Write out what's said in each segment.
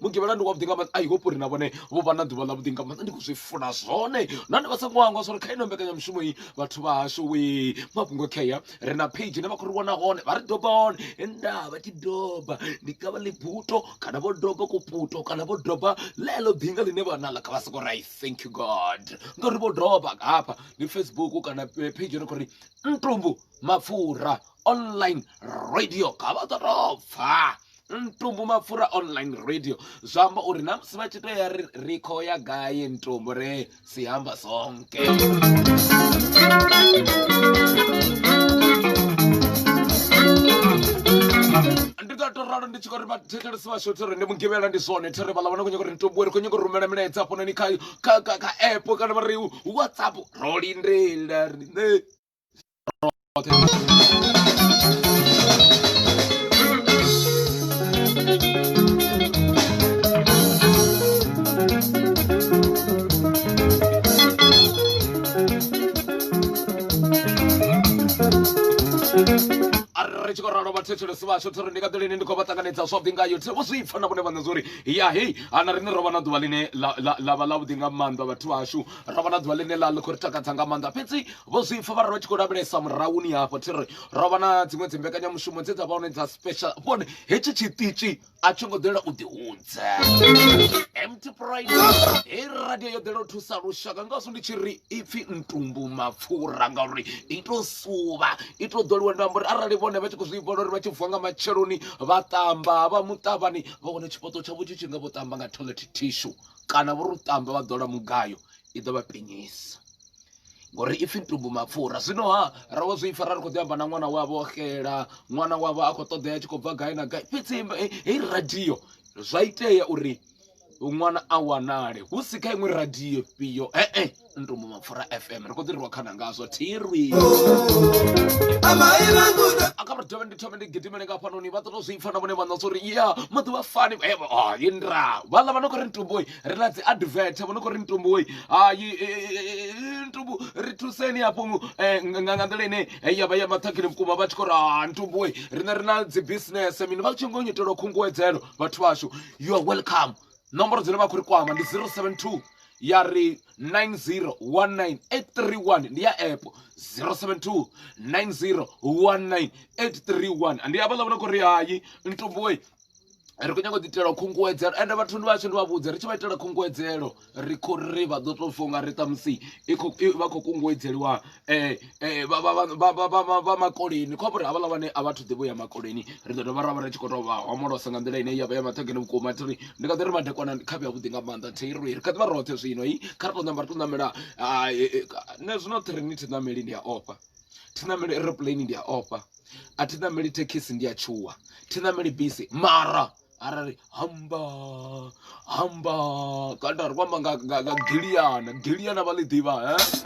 mugivhela ndi wavhuḓi nga maanḓa i hope uri na vhone vho vha na ḓuvha ḽavhuḓi nga maanḓa ndi khou zwi funa zwone nahone vha songo hangwa zwori kha ino mbekanyamushumo iyi vhathu vha hashu we mafhungo khea ri na page ine vha khou ri wana hone vha ri doba hone nda vha tshi doba ndi kavha ḽibuto kana vho doba kuputo kana vho doba ḽeḽo ḓinga ḽine vha naḽa kha vha soko ri thank you god ngauri vho doba hafha ndi facebook kana eh, page ine khou ri ntumbu mapfura online radio kha vha ḓo tou pfha ntumbu mapfura online radio zwa amba uri na musi vha tshi to ya ri ri khou ya gai ntumbu re si amba sonke ndi nga to ralo ndi tshi khou ri vhathetshelesi vhashu thero ndi mugivhela ndi zwone thero vhala vhana khou nyanga uri ntumbu ri khou nyanga u rumela milaedza hafhanoni kha kha kha kha app kana vha ri whatsapp ro lindela riṋe ri tshi khou ralo vhathetshelesi vhashu thiri ndi nga ḓilini ndi khou vha ṱanganedza zwavhuḓi ngayo thi vho zwi pfa na vhone vhaṋe zwori ya hei ana riṋe ro vha na ḓuvha ḽine ḽa vha ḽavhuḓi nga maanḓa vhathu vhashu ro vha na ḓuvha ḽine ḽa ḽi khou ri takadza nga maanḓa fhedzi vho zwi pfa vha ri vha tshi khou lavhelesa murahuni hafho thi ri ro vha na dziṅwe dzi mbekanyamushumo dze dza vha hone dza special vhone hetshi tshiṱitshi a tsho ngo ḓela u ḓihudza empty pride he radio yo ḓela u thusa lushaka ngazwo ndi tshi ri ipfhi ntumbu mapfura ngauri i to suvha i to ḓoliwa ndo amba uri arali vhone vha tshi khou zwi vhona uri vha tshi vuwa nga matsheloni vha ṱamba vha muṱavhani vha wana tshipoto tshavho tshi tshi nga vho ṱamba nga toilet tissue kana vho ri u ṱamba vha ḓola mugayo i ḓo vha penyisa ngori ipfi ntungu mapfura zwino ha ra wa zwi fara ri khou ḓi amba na ṅwana wavho o xela ṅwana wavho a khou ṱoḓea tshi khou bva gai na gai fhedzi heyi radio zwa itea uri ṅwana a wanale hu si kha iṅwe radio fhio e-e ntumbu mapfura fm ri khou ḓi rwa khana ngazwo thirwi aka ri dovhe ndi thome ndi gidimele nga fhanoni vha ṱoto zwi pfa na vhone vhaṋa zwa uri ya maḓuvha fani evo ah, yindra vhaḽa vha no khou ri ntumboi ri na dzi advert vho no khou ri ntumbu woi hayi e, e, e, ntumbu ri thuseni hafho nga nḓila ine ya vha ya maṱhakheni vhukuma vha tshi khou ri ha ntumbu woi riṋe ri na dzi business mini vha tshi ngo nyitelwa khunguwedzelo vhathu vhashu you are welcome nomboro dzine vha khou ri kwama ndi 072 ya ri 9019831 ndi ya app 072 9019831 ndi havhaḽa vho no khou ri hayi ntumbu woi ri khou nyanga u ḓitela khunguwedzelo ende vhathu ndi vhashu ndi vha vhudze ri tshi vha itela khunguwedzelo ri khou ri vha ḓo tou funga ri ṱamusi vha khou kunguwedzeliwa um vha makoleni khou amba uri havhaḽa vhane a vhathu ḓivho ya makoleni ri ḓo dovha ra vha ri tshi khou tou vha homolosa nga nḓila ine ya vha ya maṱhogeni vhukuma thi ri ndi kha ḓi ri madekwana kha vhe avhuḓi nga maanḓa thi ri ri kha ḓi vha roṱhe zwino i kha ri tou ṋamba ri tou ṋamela nṋe zwino thi ri ni thi ṋameli ndi a ofha thi nameli aeroplane ndi a ofha a thi nameli thekhisi ndi a tshuwa thi nameli bisi mara arali hamba hamba kana ri kwamba nga nga nga giliyana giliyana vha ḽi ḓivha he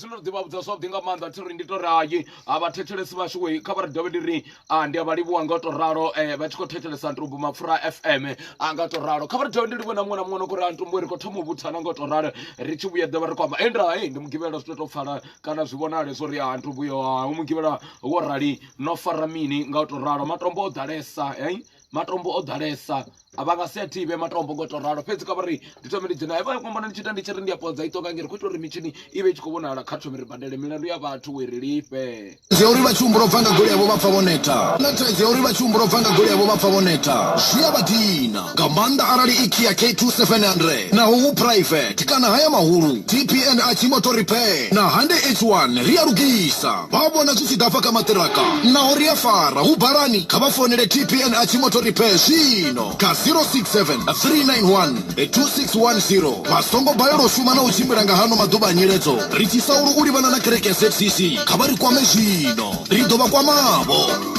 ndo ḓi vha vhudza zwavhuḓi nga maanḓa thi ri ndi to rayi a vha thetshelesi vhashu wei kha vha ri dovhe ndi ri a ndi a vha livhuwa nga u to ralo um vha tshi khou thetshelesa ntumbu mapfura fm a nga u to ralo kha vha ri dovhe ndi livhuwe na muṅwe na muṅwe no khou ri a ntumbu ri khou thoma u vhuthana nga u to ralo ri tshi vhuya ḓovha ri khou amba e nda e ndi mugivhela zwi to to pfala kana zwi vhonale zwo ri a ntumbu yo a u mugivhela wo rali no fara mini nga u to ralo matombo o ḓalesa hei matombo o ḓalesa a vha nga si a thivhe matombo ngo to ralo fhedzi ka vha ri ndi thome ndi dzhena vha kombona ndi tshi ita ndi tshi ri ndi a podza i ṱonga ngeri khou ita uri mitshini i vhe i tshi khou vhonala kha thome ri badele milandu ya vhathu we ri lifhe zwi uri vha tshi humbula u bva nga goli yavho vha pfa vho neta na thaidzo ya uri vha tshi humbula u bva nga goli yavho vha pfa vho neta zwi a vha dina nga maanḓa arali i kia k2 700 naho hu private kana haya mahulu tpn a tshi moto repair na hande h1 ri a lugisa Vha vhona zwi tshi ḓa hafha kha maṱiraka naho ri a fara. Hu balani, kha vha founele TPNH Motor Repair zwino kha 067 391 2610. Vha songo balelwa u shuma na u tshimbila nga hano maḓuvha a nyiledzo ri tshi sa ulu u livhana na kereke ya ZCC. Kha vha ri kwame zwino, ri ḓo vha kwamavho.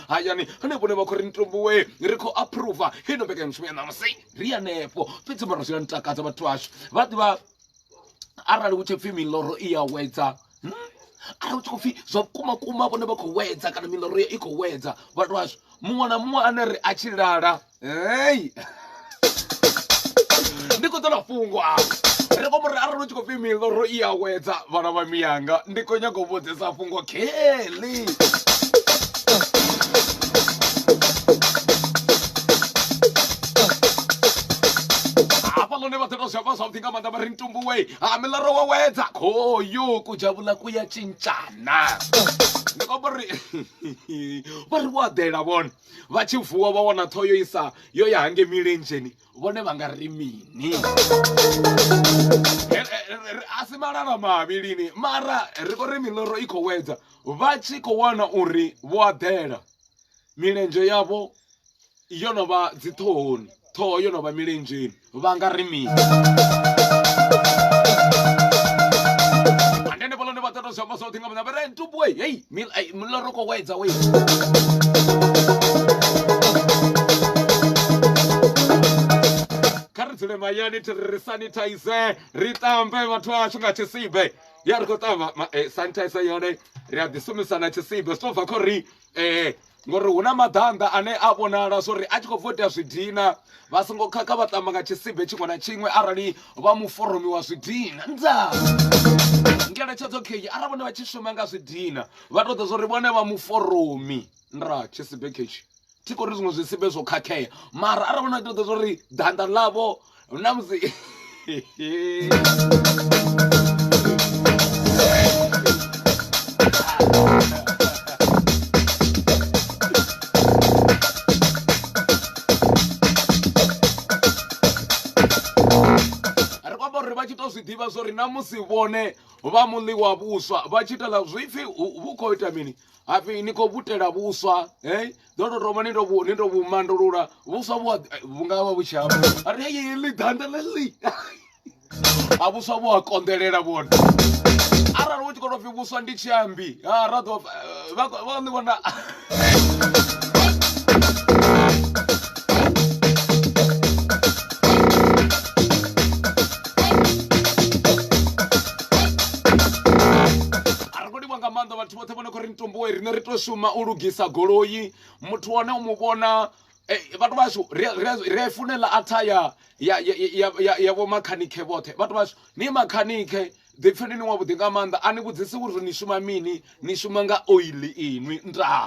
hayani hanefho ne vha khou ri ni tumbuwe ri khou approva kha ino mbekanyamushumo ya ṋamusi ri hanefho fhedzi mara zwi a ni takadza vhathu ashu vha ḓivha arali hu tshi pfhi miloro i ya wedza hmm? arali hu tshi khou pfhi zwa vhukuma kuma vhone vha khou wedza kana miloro i khou wedza vhathu ashu muṅwe na muṅwe ane ri a tshi lala Hey! ndi khou ṱola fhungo afha ri khou mura arali u tshi khou pfi miḽoro i awedza vhana vha miyanga ndi khou nyaga u vhudzisa fhungo kelly hafha lone vha ḓoto zwavha zwavhuḓi nga maanḓa vha ri ntumbuwe ha miḽoro wa wedza khoyo kudzhavhula ku ya tshintshana ndi khou amba uri vha ri wo aḓela vhone vha tshi vuwa vha wana ṱhoho yo isa yo ya hange milenzheni vhone vha nga ri mini a si malala mavhilini mara ri khou ri miloro i khou wedza vha tshi khou wana uri vho aḓela milenzhe yavho yo no vha dziṱhohoni ṱhoho yo no vha milenzheni vha nga ri mini andene vhalone vha ṱoḓa zwiamba zwoṱhe nga maanḓa vha ri ntubu we hei miloro kho wedza we kha ri dzule mayani thi ri sanitize ri ṱambe vhathu ashu nga tshisibe ya ri khou ṱamba eh, sanitizer yone ri a ḓi sumisana tshisibe zwi to bva kho ri ee ngori hu na maḓanḓa ane a vhonala zwo ri a tshi khou bva u tea zwidina vha songo khakha vha tamba nga tshisibe tshiṅwe na tshiṅwe arali vha muforomi wa zwidina nda ngeletshedzo khei arali vhone vha tshi shuma nga zwidina vha tou ḓa zwo ri vhone vha muforomi nda tshisibe khetshi thi khou ri zwiṅwe zwisibe zwo khakhea mara arali vhone vha tou ḓa zwo ri ḓanḓa ḽavho na musi zwiḓivha zwo ri na musi vhone vha muḽi wa vhuswa vha tshi itela zwipfi vhu khou ita mini hapfi ni khou vutela vhuswa hey ḓo tou thoma ni to ni to vhu mandulula vhuswa vhu vhu nga vha vhu tshi amba ari heyi ḽi danda ḽe ḽi a vhuswa vhu a konḓelela vhone arali hu tshi khou tou pfhi vhuswa ndi tshi ambi ha ra ḓo vha vha ni vhona vhathu vhoṱhe vhone khou ri ntomboe rine ri tou shuma u lugisa goloi muthu wane u mu vhona eh, vhathu vhashu ri a funela atha ya ya ya ya ya vho makhanikhe vhoṱhe vhathu vhashu ni makhanikhe ḓipfheni ni wavhuḓi nga maanḓa a ni vhudzisi uri ni shuma mini ni shuma nga oili inwi ndaa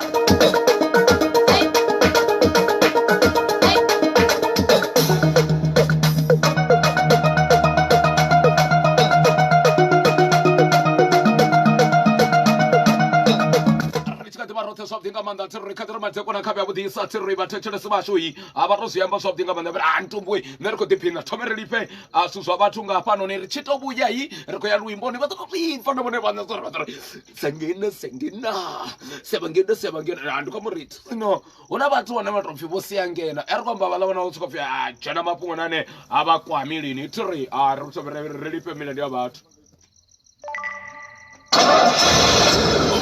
vhuḓisa thi ri vhathetshelesi vhashu i a vha to zwi amba zwavhuḓi nga maanḓa vhari a ntumbuwe nṋe ri khou ḓiphina thome ri lifhe a zwithu zwa vhathu nga hafhanoni ri tshi to vhuya i ri khou ya luimboni vha ḓo to zwipfa na vhone vhaṋe zwa ri vha ḓo ri sengena sengena sevangena sevangena ndi khou mu ri no hu na vhathu vhane vha tou pfhi vho sia ngena a ri khou amba vhaḽa vhona vho sokou pfhi a dzhena mafhungo na ane a vha kwami lini thi ri a ri tou ri lifhe milendo ya vhathu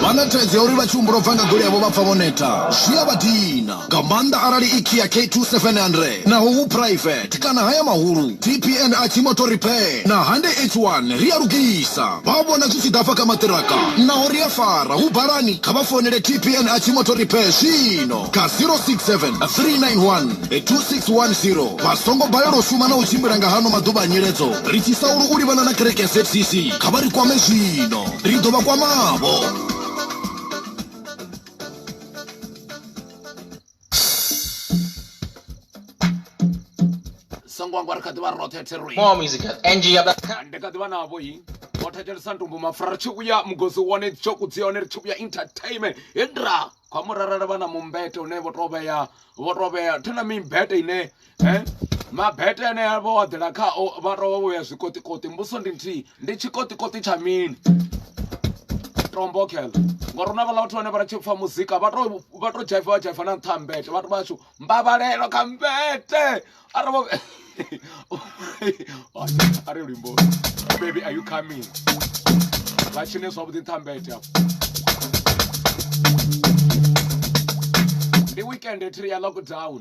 vha na thaidzo ya uri vha tshi humbula u bva nga goli yavho vha pfa vho neta zwi a vha dina nga maanḓa arali i kia k2700 naho hu private kana haya mahulu tpn a tshimoto repair na hande h1 ri a lugisa vha vhona zwi tshi ḓa afha kha maṱiraka naho ri a fara hu balani kha vha founele tpn a tshimoto repair zwino kha 067 391 2610 vha songo balelwa u shuma na u tshimbila nga hano maḓuvha a nyiledzo ri tshi saulu u livhana na kereke ya zcc kha vha ri kwame zwino ri ḓo vha kwamavho songo angwa ri kha ḓivha roṱhe theroi More music at ngiyablack. ndi kha ḓivha navho yi o thetshelesa ntumbu mafura ri tshi vhuya mugosi wone tshoku dzi hone ri tshi vhuya entertainment hindra kwa murarara vha na mumbete une vho to vhea vho to vhea thena mimbete ine eh mabete ane a vha waḓela khao vha tovha vho ya zwikoṱikoṱi mbuso ndi nthihi ndi tshikoṱikoṱi tsha mini tombokhela ngori una vhala vhathu vhane vha ri tshi pfa muzika vha to vha to dzhaifa vha dzhaifa na nṱha mbete vhathu vhashu mbabalelo kha mbete ara vho ari luimbo baby are you coming vha tshine zwavhuḓi nṱha mbete afho ndi weekend thiri ya lockdown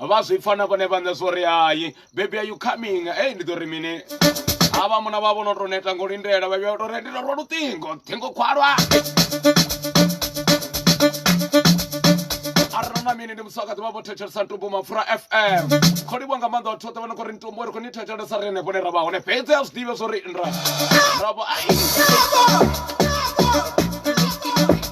vha zwi pfa na vhone vhaṋe zwo ri hai baby are you coming ei ndi ḓo ri mini havha muna vha vho no tou neta ngo lindela vha vhuya to ri ndi rwa luṱingo ṱhingo khwalwa na mini ndi musaka ḓivha vho thetshelesa ntumbu mapfura fm kho livhwa nga maanḓa vhathu vhoṱhe vha no khou ri ntumbu ri khou ni thetshelesa ri henefho ne ra vha hone fhedzi a zwi ḓivhe zwo ri nra ra vho ai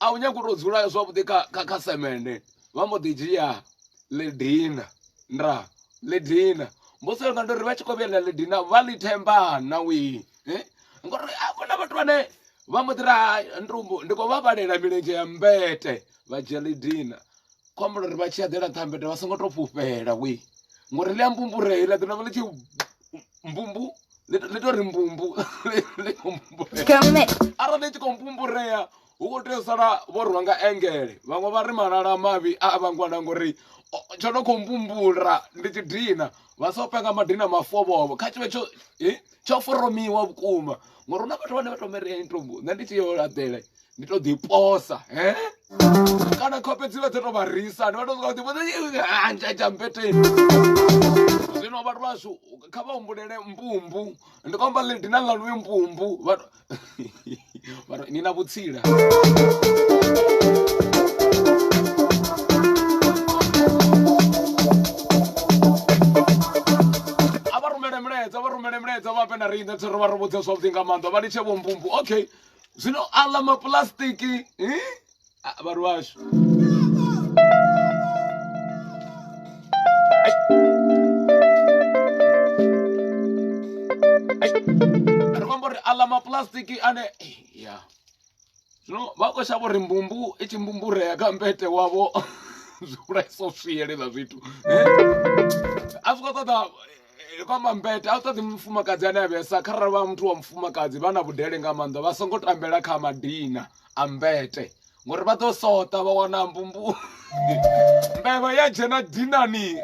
a u nyagi u to dzula zwavhuḓi kha kha kha semende vha mbo ḓi dzhia ledina nda ledina mbosi yanga ndo ri vha tshi kho vhuyela ledina vha ḽi themba na wi eh? ngori a kona vhathu vhane vha mbo ḓi ra ndi khou vha vhalela milenzhe ya mbete vha dzhia ledina khou ambela uri vha tshi aḓela kha mbete vha songo to fhufhela we ngori ḽi a mbumbure ḽa ḓi navha ḽi tshi mbumbu ḽi to ri mbumbu ḽi khou mbumbure arali ḽi tshi khou mbumburea hu khou tea u sala vho rwa nga engele vhaṅwe vha ri malala mavhi a a vhangwana ngori tsho no khou mbumbula ndi tshi dina vha so penga madina mafovhovo kha tshivhe tsho tsho foromiwa vhukuma ngori hu na vhathu vhane vha to mari ya intombo nṋe ndi tshi yo laḓela ndi to ḓi posa he kana khofhe dzi vha dzi to vha risa ndi vha to soka ḓi posa ntsha tsha mpeteni zwino vhathu vhashu kha vha humbulele mbumbu ndi kwamba ḽi dina ḽa luvhi mbumbu vhathu vhathu ni na vhutsila a vha rumele milaedza vha rumele milaedza vha vhe na riṋe tsho ri vha ri vhudze zwavhuḓi nga maanḓa vha litshe vho mbumbu okay zwino aḽa mapulastiki vhathu vhashu ri khombo ri aḽa mapulastiki ane ya zwino vha khou shavha uri mbumbu i tshi mbumburea kha mbete wavho zwi vhulaisa u swielela zwithu a zwi khou ṱoḓa eh, vha mambete a u ṱoḓi mufumakadzi ane a vhesa kharali vha muthu wa mufumakadzi vha na vhudele nga maanḓa vha songo tambela kha madina a mbete ngori vha ḓo sota vha wana mbumbu mbevha ya dzhena dinani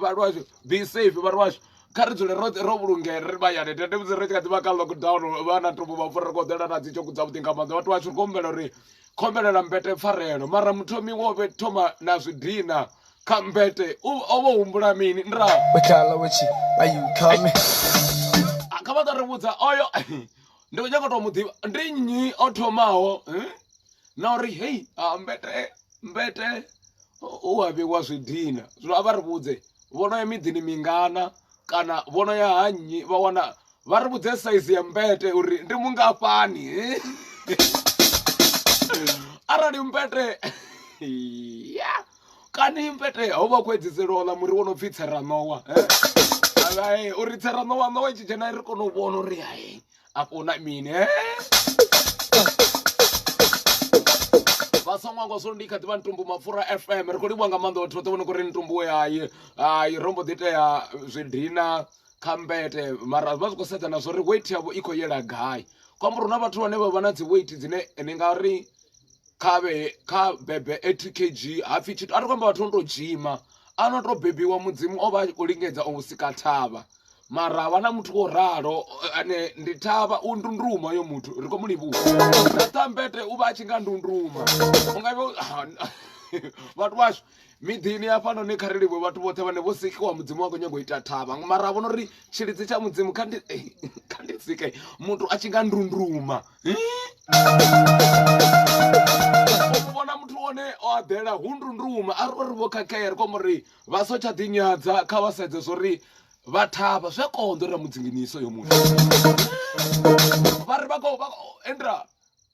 vhalwashu be safe vhalwashu kha ri dzule ro ro vhulungea ri vhayane tende musi ri tshi kha ḓi vha kha lockdown vha na tobo vha fura ri khou ḓela na dzi tshoku dza vhuḓi nga maanḓa vhathu vhashu ri khou humbela uri khombelela mbete pfarelo mara muthomi wo vhe thoma na zwidina khambete u o vho humbula mini ndra wekhala wetshi ayi khame kha vha tori vhudza oyo ndi khou nyanga u tou mu ḓivha ndi nnyi o thomaho eh? na uri hei ah, mbete mbete u a vhewa zwidina zwino a vha ri vhudze vho no ya miḓini mingana kana vho no ya ha nnyi vha wana vha ri vhudze saizi ya mbete uri ndi mungafhani eh? arali mbete ya kani mpete ho vha khou edzisela ola muri wo no pfhi tsheranowa eh? uri tsheranowa nowa i tshi dzhena ri kone u vhona uri hai afho na mini eh? vhasongo ngo so ndi kha ḓivha ntumbu mapfura fm ri khou livhuwa nga maanḓa vhathu vhoṱhe vho no kho ri ntumbu we hayi hayi ro mbo ḓi tea zwidina kha mbete mara vha zwi khou sedza na zwo ri weight yavho i khou yela gai kwambura hu na vhathu vhane vha vha na dzi weight dzine ni nga ri kha vhe kha bebe 80 kg hapfi tshithu a ri kwamba vhathu no to dzhima a no to bebiwa mudzimu o vha a khou lingedza u sika thavha mara havha na muthu wo ralo ane ndi thavha u ndunduma yo muthu ri khou mu livhuwa na tambete u vha a tshi nga ndunduma u nga vhathu vhashu miḓini hafhanoni kha ri livhuwe vhathu vhoṱhe vhane vho sikiwa mudzimu wa khou nyanga u ita thavha mara a vhona uri tshilidzi tsha mudzimu kha ndi eh, kha ndi sike muthu a tshi nga ndunduma u vhona muthu one o aḓela hu ndunduma a ri vho khakhea ri khombo ri vha so tsha ḓinyadza kha vha sedze zwo ri vha thavha zwi a konḓo ri ra mudzinginisa yo muthu vha ri vha khou endra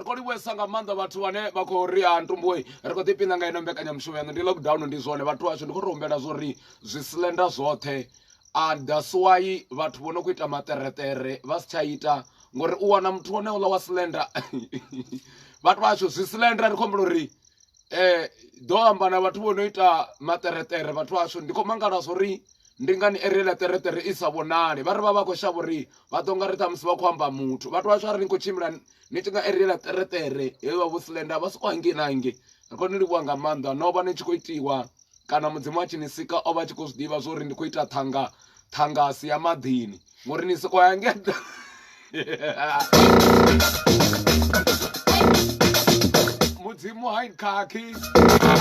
ri khou livhuesa nga maanḓa vhathu vhane vha khou ri a ntumbuwe ri khou ḓipina nga ino mbekanyamushumo yaṋu ndi lockdown ndi zwone vhathu ashu ndi khou ri humbela zwo ri zwi slenda zwoṱhe a daswayi vhathu vho no khou ita maṱereṱere vha si tsha ita ngori u wana muthu wone uḽa wa slenda vhathu vhashu zwi slenda ri khou humbela uri um ḓo amba na vhathu vho no ita maṱereṱere vhathu vhashu ndi khou mangala zwo ri ndi ngani eriela ṱereṱere i sa vhonali vha ri vha vha khou shavha uri vha ḓo nga ri ṱhamusi vha khou amba muthu vhathu vhashu a ri ni khou tshimbila ni tshi nga erela ṱereṱere he vha vho silenda vha soko hangei na hangei ri khou ni livhuwa nga maanḓa no vha ni tshi khou itiwa kana mudzimu a tshi ni sika o vha tshi khou zwi ḓivha zwo uri ndi khou ita ṱhanga ṱhanga si ya maḓini ngori ni soko ya ngea mudzimu ha khakhi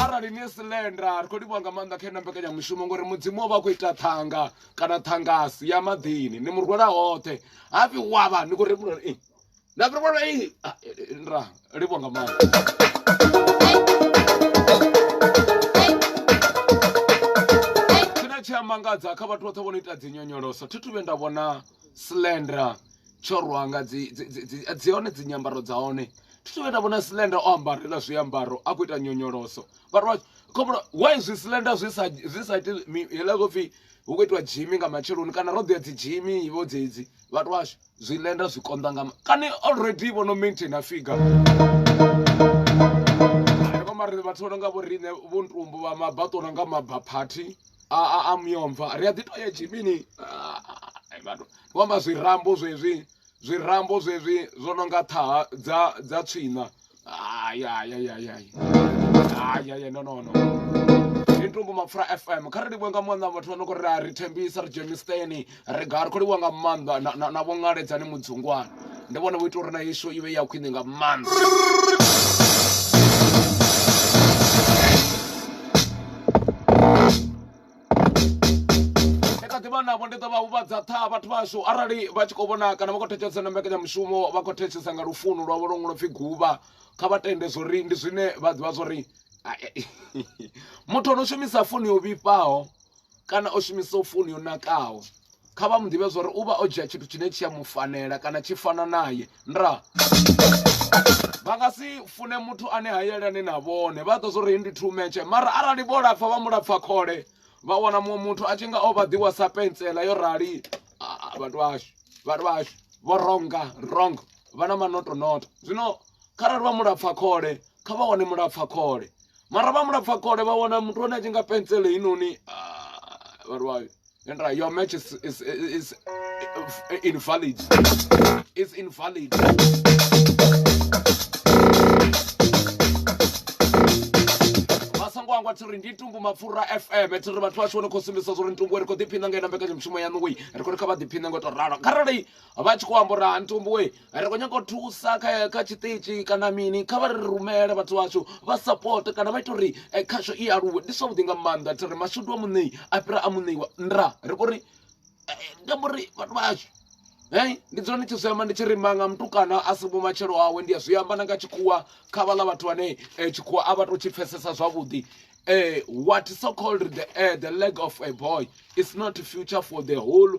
arali ni silenda ri khou livhuwa nga maanḓa kha ina mbekanyamushumo ngori mudzimu o vha a khou ita ṱhanga kana ṱhangasi ya maḓini ni mu rwela hoṱhe hafhi wavha ni khou rembula na fhira vhona i ah, eh, eh, nra livho nga maanḓa tshine tshi a mangadza kha vhathu vhoṱhe vho no ita dzinyonyoloso thi thu vhe nda vhona slendra tsho rwa nga dzi dzi- dzi- dzi- dzi hone dzi nyambaro dza hone thi thu vhe nda vhona slendra o ambarela zwiambaro a khou ita nyonyoloso vhathu vha khombolo why zwi slendra zwi sa zwi sa iti mi- hela zwo pfhi hu khou itiwa dzhimi nga matsheloni kana ro ḓo ya dzi dzhimi vho dzedzi vhathu vhashu zwilenda zwi konḓa nga kani already vho no maintain a figa mari vhathu vha no nga vho riṋe vho ntumbu vha mabaṱo no nga mabaphathi a a a muyomva ri a ḓi to ya jimini vhathu vho amba zwirambo zwezwi zwirambo zwezwi zwo no nga ṱhaha dza dza tswiṋa Ay, ay, ay, ay, ay. Ay, ay, ay, no, no, no. Ndi ntungu mapfura fm kha ri livhuwe nga maanḓa vhathu vha no khou ri a ri thembisa ri dzhenisteni ri ga ri khou livhuwa nga maanḓa na- na- na vho ṅaledzani mudzungwana ndi vhone vho ita uri na isho i vhe ya khwine nga maanḓa kha ḓi vha navho ndi ḓo vha huvhadza ṱhaha vhathu vhashu arali vha tshi khou vhona kana vha khou thetshelesa na mbekanyamushumo vha khou thetshelesa nga lufuno lwavho lwo ṅwalo pfhi guvha kha vha tende zwori ndi zwine vha ḓivha zwori muthu ono shumisa founu yo vhifhaho kana o shumisa founu yo nakaho kha vha mu ḓivhe zwa uri u vha o dzhia tshithu tshine tshi a mu fanela kana tshi fana naye nda vha nga si fune muthu ane ha yelani na vhone vha ḓo zwo ri ndi two match mara arali vho lapfa vha mu lapfa khole vha wana muṅwe muthu a tshi nga o vha ḓiwa sa pentsela yo rali vhathu vhashu vhathu vhashu vho ronga rong vha na manotonoto zwino kharali vha mulapfa khole kha vha wane mulapfa khole mara vha mulapfa khole vha wana muthu ane a tshi nga pentsele inoni vhathu vhashu Andra, your match is, is, is, is invalid. It's invalid. vhangwa thi ri ndi tumbu mapfura fm thi ri vhathu vhashu vho no khou sumbisa zwo ri ntumbu ri khou ḓiphina nga ina mbekanyamushumo yaṋu wei ri khou ri kha vha ḓiphine ngo tou ralo kharali vha tshi khou amba uri ha ntumbu wei ri khou nyanga u thusa kha kha tshiṱitshi kana mini kha vha ri rumele vhathu vhashu vha support kana vha ita uri eh, khasho i aluwe ndi zwavhuḓi nga maanḓa thi ri mashudu a muṋei a fhira a muṋeiwa nda ri khou ri eh, eh, ndi amba uri vhathu vhashu Hey, ndi dzula ndi tshi zwi amba ndi tshi ri manga mutukana a si vhumatshelo awe ndi a zwi amba na nga tshikhuwa kha vhaḽa vhathu vhane eh, tshikhuwa a vha to tshi pfesesa zwavhuḓi eh, what so called the, eh, the leg of a boy is not future for the whole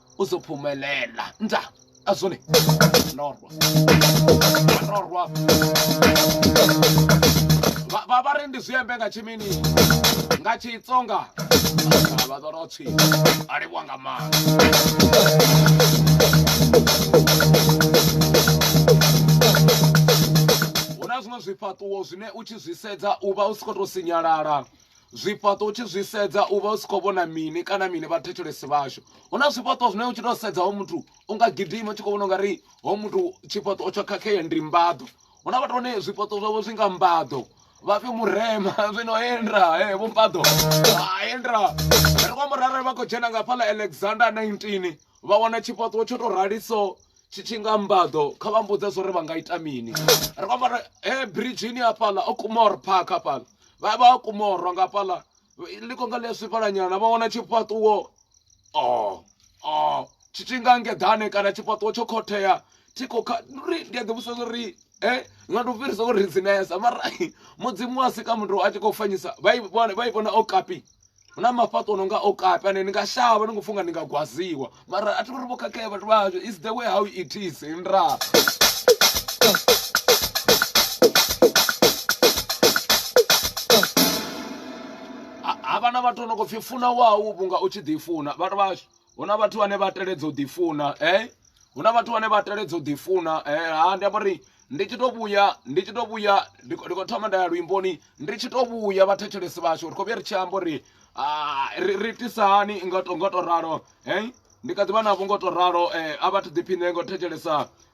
uzophumelela nta azone norwa norwa vha vha ri ndi zwiembe nga tshimini nga tshitsonga vha ḓo ro tshi a livhuwa nga maanḓa hu na zwiṅwe zwifhaṱuwo zwine u tshi zwi sedza u vha u si khou tou sinyalala zwifhaṱo u tshi zwi sedza u vha u si khou vhona mini kana mini vha thetshelesi vhashu hu na zwifhaṱo zwine u tshi tou sedza ho muthu u nga gidima u tshi khou vhona ungari ho muthu tshifhaṱo tsho khakhea ndi mbaḓo hu na vhathu vhane zwifhaṱo zwavho zwi nga mbaḓo vha fhe murema zwino hendra e vho mbaḓo hendra ri khou amba uri arali vha khou dzhena nga fhaḽa alexander 19 vha wana tshifhaṱo tsho tou rali so tshi tshi nga mbaḓo kha vha mbudze zwo ri vha nga ita mini ri khou amba uri he biridzhini hafhaḽa o kumor park hafhaḽa vha vha kumorwa nga fhaḽa liko nga ḽi a swifhalanyana vha wana tshifhaṱuwo o oh, o oh, tshi tshi nga ngeḓane kana tshifhaṱuwo tsho khothea thi khou kha ri ndi a ḓi vhusa uri e eh, nga ndi u fhirisa uri dzinesa mara mudzimu a sika muthu a tshi khou fanyisa vha i vhona o kapi hu na mafhaṱo no nga o kapi ane ni nga shavha ni khou funga ni nga gwaziwa mara a thi uri vho khakhea vhathu vha hashu is the way how it is nra havha na vhathu no khou pfhi funa wau vhunga u tshi ḓi funa vhathu vhashu hu na vhathu vhane vha teledza u ḓifuna eh hu na vhathu vhane vha teledza u ḓifuna eh ha ndi amba uri ndi tshi to vhuya ndi tshi to vhuya ndi khou thoma nda ya luimboni ndi tshi to vhuya vhathetshelesi vhashu ri khou vhuya ri tshi amba uri ah, ri itisa hani nga to ralo eh ndi kha ḓivha navho ngo to ralo eh a vhathu ḓiphiṋe ngo thetshelesa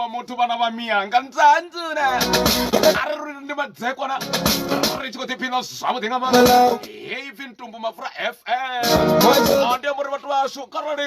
wa motho bana ba miyanga ntsantsune a re ruri ndi madzekwana re tshi khou ḓiphina zwavhuḓi nga maanḓa hei pfi ntumbu mafura fm ande muri vhathu vhashu kharali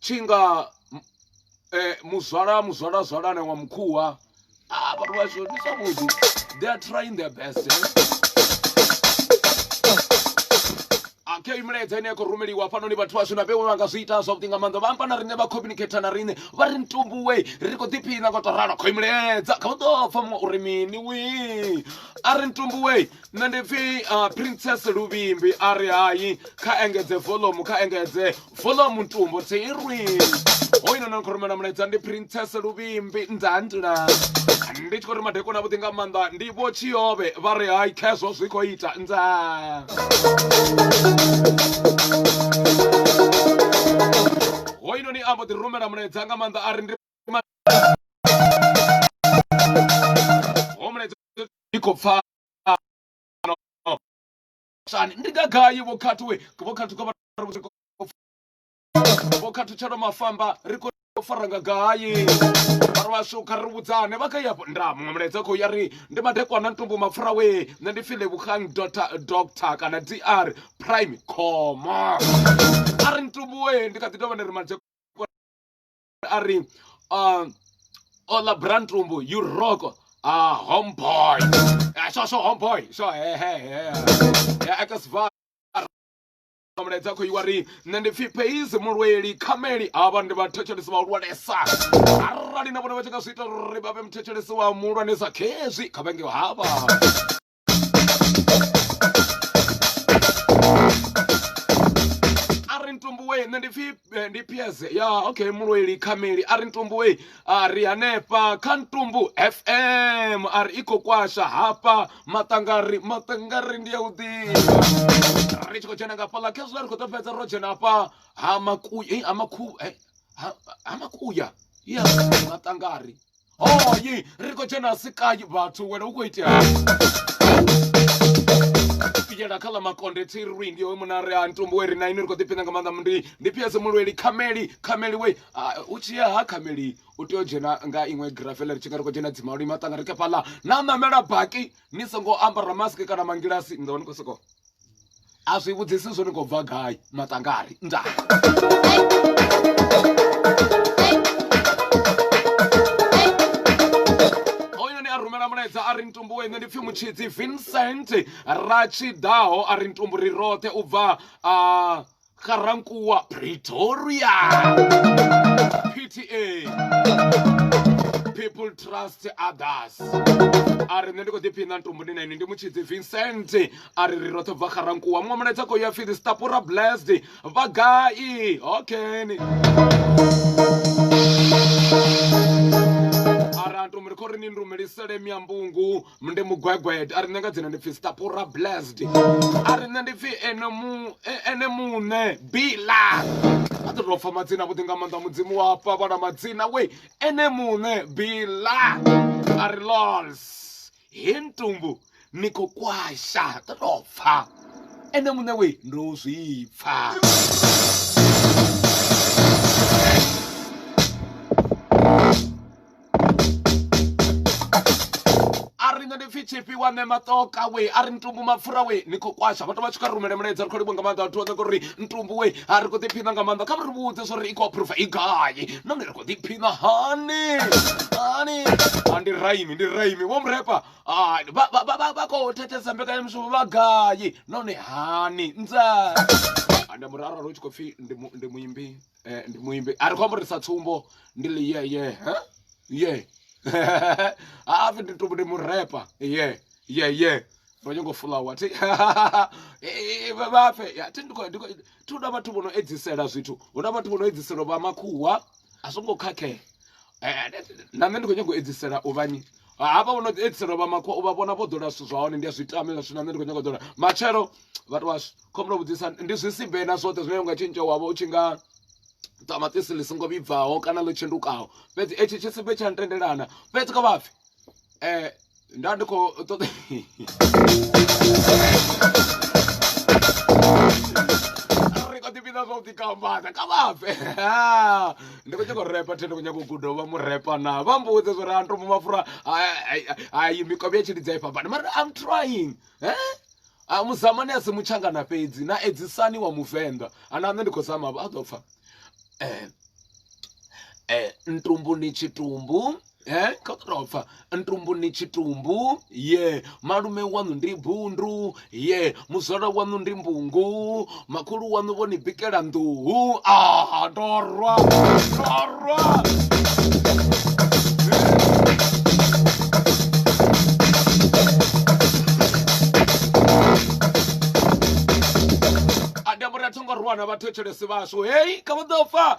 tshi nga muzwala muzwala zwalane wa mukhuwa a ah, vhathu vhashu ndi zwavhuḓi they are trying their best kha iyi milaedza ine ya khou rumeliwa hafhanoni vhathu vhashu na vhewe vha nga zwi ita zwavhuḓi nga maanḓa vha amba na riṋe vha communicate na riṋe vha ri ntumbuwe ri khou ḓiphina nga u tou ralo kho imilaedza kha u ḓo pfa muṅwe uri mini wi a ri ntumbuwe nṋe ndi pfi uh, princess luvimbi a ri hayi kha engedze volume kha engedze volume ntumbo tsirwi hoyu nona ni khou rumela mulaedza ndi princess luvimbi ndzandila ndi tshi khou ri madeko na vhuḓi nga maanḓa ndi vho tshiyove vha ri hayi khezwo zwi khou ita ndza hoyu noni ambo ḓi rumela mulaedza nga maanḓa a ri ndi ndi khou pfala shani ndi nga gai vho khathu we vho khathu ka vho khathu tshelo mafamba ri khou fara nga gai vhari vhashu kha ri vhudzane vha kha yapo nda muṅwe mulaedza khou ya ri ndi madekwana ntumbu mapfura we nṋe ndi file vhukhang doctor doctor kana dr prime coma a ri ntumbu we ndi kha ḓi tovha ndi ri madekwana a ri uh, ola brantumbu you rock uh, homeboy uh, sho sho homeboy sho hehehe ya aka sva mulaedza khou iwa ri nṋe ndi pfhi pheizi mulweli khameli havha ndi vhathetshelesi vhahulwanesa arali na vhone vha tshi nga zwi ita uri vha vhe muthetshelesi wa muhulwanesa khezwi kha vhenge havha ntumbuwe nṋe ndi pfi eh, ndi ps ya okay mulweli khameli a ri ntumbuwe a ri hanefha kha ntumbu fm a ri i khou kwasha hafha maṱangari maṱangari ndi ya u ḓivha ri tshi khou dzhena nga fhaḽa khezwiḽa ri khou ḓo fhedza ro dzhena hafha ha makuya ha makhu ha makuya ya maṱangari hoyi ri khou dzhena sikai vhathu wena u khou itea fiyela kha ḽa makonde tsirwi ndi hoyo munare a ntumbu we ri na ini ri khou ḓiphina nga maanḓa ndi ndi phiyese mulweli khameli khameli we u tshi ya ha khameli u tea u dzhena nga iṅwe grafele ri tshi nga ri khou dzhena dzimalwi maṱanga ri kha fhaḽa na ṋamela baki ni songo ambara mask kana mangilasi ni ḓo vha ni khou sokou a zwi vhudzisi zwo ni khou bva gai maṱangari nda mulaedza a ri ntumbuwe nṋe ndi pfhi mutshidzi vincent ra tshi ḓaho a ri ntumbu ri roṱhe u bva a uh, Garankuwa Pretoria PTA People Trust Others a ri nṋe ndi khou ḓiphina ntumbuni na ini ndi mutshidzi vincent a ri ri roṱhe bva garankuwa muṅwe mulaedza khou ya pfi the stapura blessed vha gai okeni a ri antumuri khou ri ni ndumelisele miambungu ndi mugwegwede a ri nṋe nga dzina ndi pfhi stapura blessed a ri nṋe ndi pfhi ene mu e, ene muṋe bila a ḓo tou pfa madzina vhuḓi nga maanḓa mudzimu wa fha vhana madzina we ene muṋe bila a ri lols he ntumbu ni khou kwasha ḓo tou pfa ene muṋe we ndo zwi pfa ri nṋe ndi pfhi tshifhi wa ṋe maṱoka we a ri ntumbu mapfura we ni khou kwasha vhathu vha tshi kha rumele mulaedza ri khou livhuwa nga maanḓa vhathu vha uri ntumbu we a ri khou ḓiphina nga maanḓa kha vha ri vhudze zwo ri i khou aphurova i gai nahone ri khou ḓiphina hani hani a ndi raimi ndi raimi vho murepa vha khou thetshelesa mbekanyamushumo vha gai nahone hani nza ande muraralo u tshi khou pfhi ndi muimbi eh, ndi muimbi a ri khou amba uri sa tsumbo ndi ḽi ye ye ye hafi ndi tumbu ndi murepa ye ye ye ro nyongo fulawa thi vhapfe thi ndi khou thi hu na vhathu vho no edzisela zwithu hu na vhathu vho no edzisela vha makhuwa a zwo ngo khakhea eh, na nṋe ndi khou nyongo edzisela u vhanyi hafha vho no edzisela vha makhuwa u vha vhona vho ḓola zwithu zwa hone ndi a zwi tamela zwithu na nṋe ndi khou nyongo ḓola matshelo vhathu washu khomulo vhudzisa ndi zwisibe na zwoṱhe zwine unga tshintsha wavha u tshi nga ṱamaṱisi ḽi songo vhibvaho kana ḽo tshendukaho fhedzi etshi tshisibe tsha ntendelana fhedzi kha vhapfi um nda ndi khou ṱoḓa ri khou ḓipfhina zwa u ḓikambadza kha vhapfe ndi khou nyaka u repa the ndi khou nyaka u guda vha mu repa na vha mbudze zwo ri anto mu mafura ai mikovhe ya tshilidza i fhambani mara i'm trying eh? a muzamani a si mutshangana fhedzi na edzisani wa muvenḓa ana nṋe ndi khou zama a ḓo pfha eh, eh, ntumbuni tshitumbu eh, kha u tou pfha ntumbuni tshitumbu ye malume waṋu ndi bundu ye muzwala waṋu ndi mbungu makhulu waṋu vho ni bikela nḓuhu a ah, ndo rwa ndo rwa thongo rwana vha thetshelesi vhashu heyi kha vha ḓo fa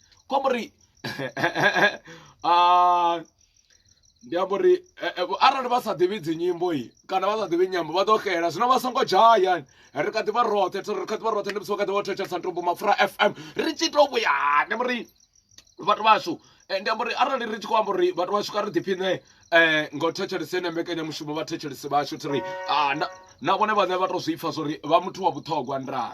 comme ri ah, ndi amba uri eh, eh, arali vha sa ḓivhi dzi nyimbo i kana vha sa ḓivhi nyambo vha ḓo xela zwino vha songo dzhaya ri kha ḓi vha roṱhe ri kha ḓi vha roṱhe ndi musi vha kha ḓi vha thetshelesa ntombo mapfura fm ri tshi to vhuya ndi amba uri vhathu vhashu eh, ndi amba uri arali ri tshi khou amba uri vhathu vhashu kha ri ḓiphiṋe um nga u thetshelese ene mbekanyamushumo vha thetshelesi vhashu thiri ah, na vhone vhane vha to zwi pfha zwo ri vha muthu wa vhuṱhogwa ndaa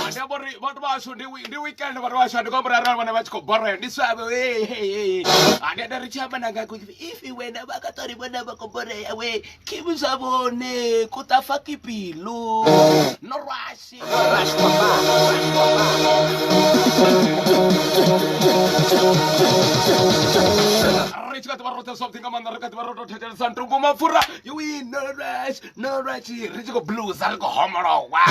ndi amba uri vhathu vhashu ndi ndi weekend vhathu vhashu ndi khou murara vhana vha tshi khou borea ndi swavho hey hey hey ndi anda ri tshi amba nanga ku if wena vha ka tori vhona vha khou borea we keep zwa vhone ku ta fa ki pilu no rush rush kwa ba rush kwa ba ri tshi kha ḓi vha ro tsa something nga maanḓa ri kha ḓi vha ro to thetshelesa ntumbu mapfura you win no rush no right ri tshi khou blusa ri khou homolowa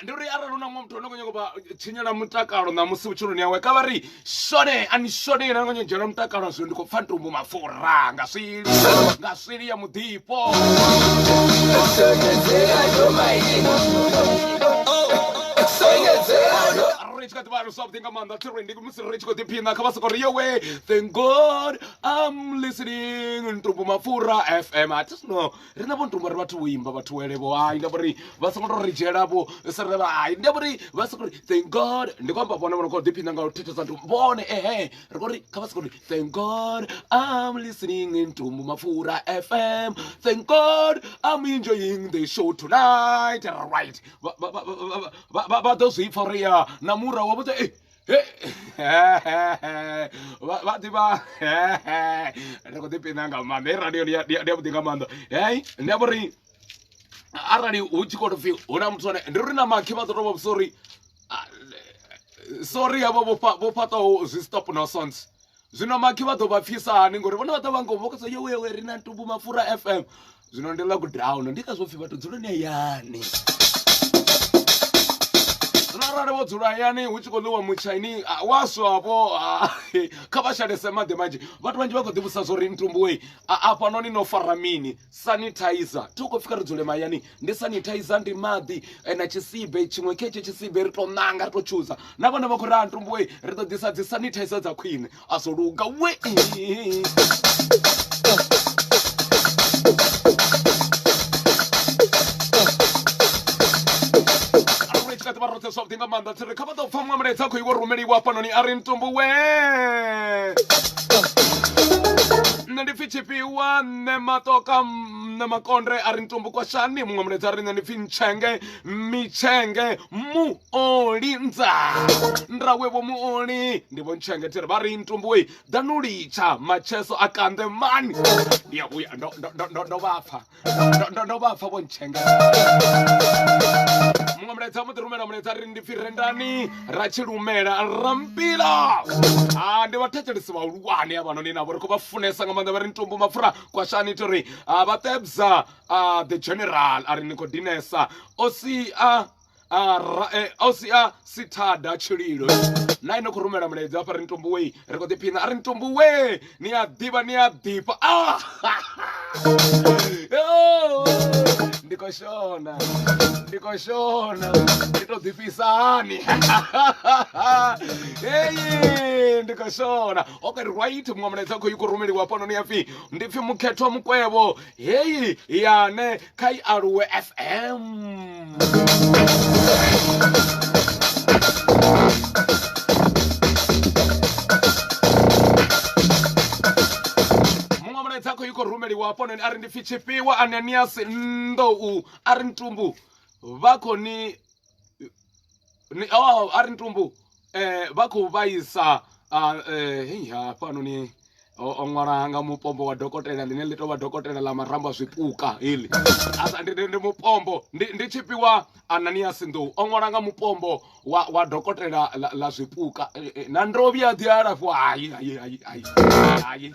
ndi uri arali una muthu ono kho nyago vha tshinyela mutakalo na musi vhutshiloni yawe ka vha ri shone ani shone ina kho nyago mutakalo zwino ndi khou pfa ntumbu mafura nga swili nga swili ya muḓifho ri tshi kha ḓivha ri something nga maanḓa tshi ri ndi ri tshi khou ḓiphina kha vha soko ri yowe thank god am listening ntumbu mapfura fm a tisno ri na vho ntumbu ri vhathu vhoimba vhathu welevho hai nda vhori vha songo to ri dzhiela vho sere vha hai nda vhori vha soko ri thank god ndi khou amba vhone vho no khou ḓiphina nga u thethesa ntumbu vhone ehe ri khou ri kha vha soko ri thank god am listening ntumbu mapfura fm thank god am enjoying the show tonight right vha ḓo zwi pfa uri ya na mura wa vhudza ei vha ḓivha ri khou ḓipina nga maanḓa hei radio ndi yavhuḓi nga maanḓa hei ndi amba uri arali hu tshi khou pfi hu na muthu ane ndi uri na makhi vha ḓo tou vha vhusa uri ah, sorry havho vho fhaṱaho zwi stop no sonts zwino makhi vha ḓo vha pfisa hani ngori vhone vha ḓo vha ngomu vha khou sa yowewe ri na ntubu mapfura fm zwino ndi lockdown ndi ngazwo pfhi vhathu dzuloni hayani zwino arali vho dzula hayani hu tshi khou ḽiwa mutshaini ah, wa swavho ah, kha vha shalese maḓi manzhi vhathu vhanzhi vha khou ḓivhusa zwo ri ntumbuwei afhanoni no fara mini sanitizer thi u khou pfika ri dzule mahayani ndi sanitizer ndi maḓi eh, na tshisibe tshiṅwe khetshe tshisibe ri tou ṋanga ri tou tshuza na vhone vha khou ri a ntumbuwei ri ḓo ḓisa dzi sanitizer dza khwine asologa we vha roṱhe zwavhuḓi nga maanḓa tsire kha vha ḓo pfa muṅwe mulaedza khou iwo rumeliwa hafhanoni a ri ntumbu we nṋe ndi pfi tshifhiwa nṋe matoka nṋe makondre a ri ntumbu kwashani muṅwe mulaedza a ri nṋe ndi pfi ntshenge mitshenge mu oli ndza nrawe vho muoli ndi vho ntshengethele vha ri ntumbuwe ḓanu litsha macheso a kanḓe mani ndi ya vhuya ndo- ndo- ndo- ndo- ndo vha pfa Ndo- ndo- ndo vha pfa vho ntshengethele muṅwe mulaedza a mbo ḓi rumela mulaedza a ri ndi pfi rendani ra tshi lumela ra mpila a ndi vhathetshelesi vhahulwane avhanoni navho ri khou vha funesa nga maanḓa vha ri ntumbu mapfura kwashani ita uri ah, vha tebza ah, the general a ri ni khou dinesa o si a ausia sithada tshililo na ine khou rumela mulaedza hafha ri ntombo wei ri kho ḓiphina a ri ntombo wee ni a ḓivha ni a ḓifha ah! ndi khou shona ndi khou shona ndi tou ḓifhisa hani heyi ndi khou shona okay right muṅwe mulaedza khou yi khou rumeliwa hafhanoni ya pfhi ndi pfhi mukhethwa mukwevho heyi yane kha i aluwe fm muṅwe mulaedza khou i khou rumeliwa hafhononi a ri ndi pfi tshifhiwa ananiasi nḓou a ri ntumbu vha khou ni oh a ri ntumbu eh vha khou vhaisa ah, eh, hei hafhanoni o o ṅwala nga mupombo wa dokotela ḽine ḽi tou vha dokotela ḽa marambo a zwipuka heḽi A sa- ndi- ndi ndi mupombo ndi ndi tshifhiwa anania sinḓou o ṅwala nga mupombo wa wa dokotela ḽa- ḽa zwipuka Eh, eh, na ndo vhuya ḓi alafhiwa hai hai hai Ay, ay.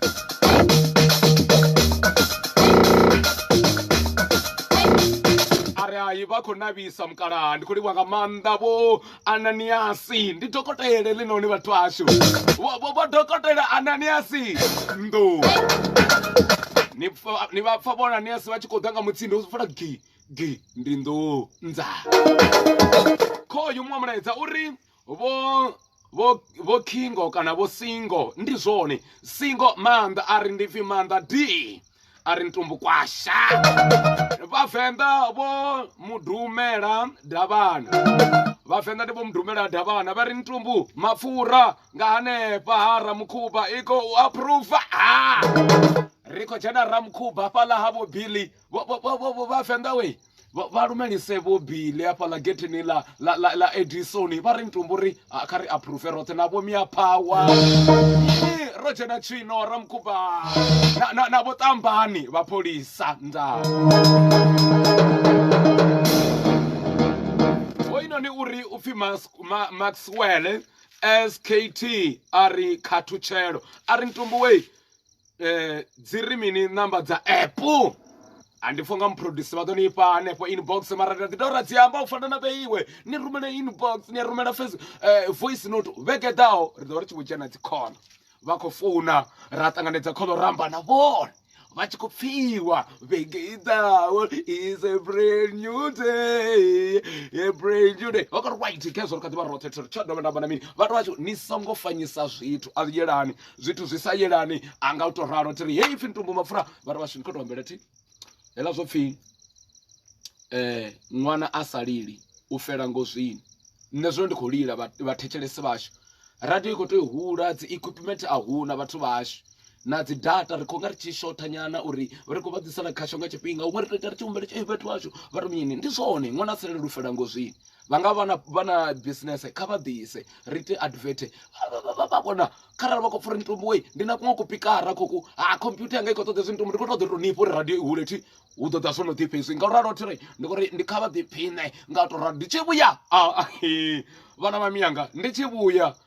vhulai vha khou navhisa mukalaha ndi khou livha nga maanḓa vho ananiasi ndi dokotele ḽinoni vhathu ashu vho dokotela ananiasi ndo ni vha pfa vho ananiasi vha tshi khou ḓa nga mutsindo u fula gi gi ndi ndo nza khoyu muṅwe mulaedza uri vho vho vho kingo kana vho singo ndi zwone singo maanḓa a ri ndi pfi maanḓa d a ri ntumbu kwasha vhavenḓa vho mudumela davhana vhavenḓa ndi vho mudumela davhana vha ri ntumbu mapfura nga hanefha ha ramukhuba i khou aphuruva ri khou dzhena ramukhuba fhaḽa ha vho billy vhavenḓa we vha lumelise vho bile hafhaḽa getheni ḽa ḽa edisoni vha ri ntumbu ri kha ri aphuruve roṱhe na vhomia phawa ro dzhena tshino ra mukuba na vho ṱambani vha pholisa ndaa hoyinoni uri u pfhi maxwell skt a ri khathutshelo a ri ntumbu wei eh, dzi ri mini namba dza app andipfo nga muproduce vha ḓo ni fha hanefho inbox mara ndi ḓo ra dzi amba u fana na vhe iwe ni rumela inbox ni a rumela face eh, voice note vhege ḓaho ri ḓo vha ri tshi vho dzhena dzi khono vha khou founa ra ṱanganedza khono ramba na vhone vha tshi khou pfiwa vhege i ḓaho is a brand new day a brand new day vha khou ri white khezwo ri kha ḓi vha roṱhe tsho tsho dovha ndamba na mini vhathu vha tshi ni songo fanyisa zwithu a yelani zwithu zwi sa yelani a nga u to ralo thiri heyi pfhi ntumbu mapfura vha ri vhashini kho to ambela thi hela zwo pfhi eh ṅwana a sa lili u fela ngozwini nṋe zwino ndi khou lila vhathetshelesi vhashu radio i khou tea u hula dzi equipment a huna vhathu vhashu na dzi data ri khou nga ri tshi shotha nyana uri ri khou vha ḓisela khasho nga tshifhinga huṅwe ri tou ita ri tshi humbela tshi vhathu vhashu vha ri mini ndi zwone ṅwana a sa lili u fela ngozwini vha nga vha na vha na business kha vha ḓise ri ite advert vha vhona kharali vha khou pfha uri ntumbu wei ndi na kuṅwe kupikara khoku ha computer yanga i khou ṱoḓa hezwi ntumbu ndi khou ṱoḓa uri ni fhe uri radio i hule thi hu ḓo ḓa zwo no ḓifha hezwi nga u ralo thiri ndi khou ri ndi kha vha ḓiphiṋe nga u tou ralo ndi tshi vhuya vhana vha miyanga ndi tshi vhuya